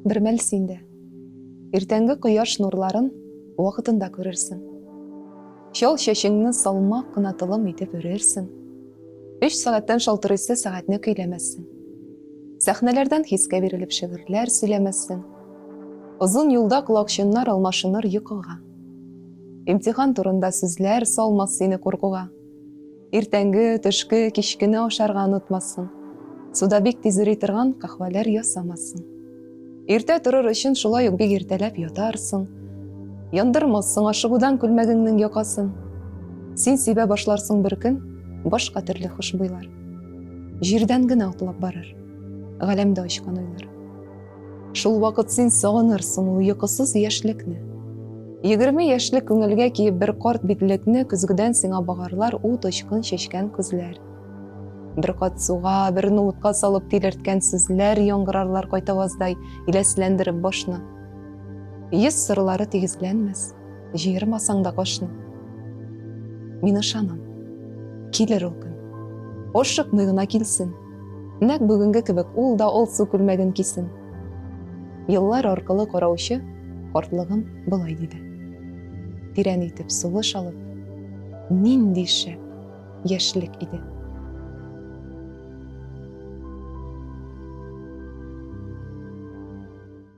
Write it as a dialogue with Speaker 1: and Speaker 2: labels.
Speaker 1: Бер мәл син дә иртәнге кояш нурларын вакытында күрерсең. Чал чәчеңне салмак кына тылым итеп өрерсең. Өч сәгатьтән шалтырыйсы сәгатьне көйләмәссең. Сәхнәләрдән хискә бирелеп шигырьләр сөйләмәссең. Озын юлда колакчыннар алмашыныр йокыга. Имтихан турында сүзләр салмас сине куркуга. Иртәнге, төшке, кичкене ашарга онытмассың. Суда бик тиз эри торган кахвәләр ясамассың. Иртә торыр өчен шулай ук бик иртәләп ятарсың. Яндырмассың ашыгудан күлмәгеңнең якасын. Син сибә башларсың бер көн башка төрле хушбуйлар. Җирдән генә атлап барыр. Галәмдә очкан уйлар. Шул вакыт син сагынырсың ул йокысыз яшьлекне. Егерме яшьлек күңелгә киеп бер карт битлекне көзгедән сиңа багарлар ут очкын чәчкән күзләр. Бер кат суга, бер ноутка салып тилерткән сүзләр яңгырарлар кайтаваздай иләсләндереп башны. Йөз сырлары тигезләнмәс, җыермасаң да кашны. Мин ышанам, килер ул көн. Ашыкмый гына килсен. Нәк бүгенге кебек ул да алсу күлмәген кисен. Еллар аркылы караучы картлыгым болай диде. Тирән итеп сулыш алып, нинди шәп яшьлек иде.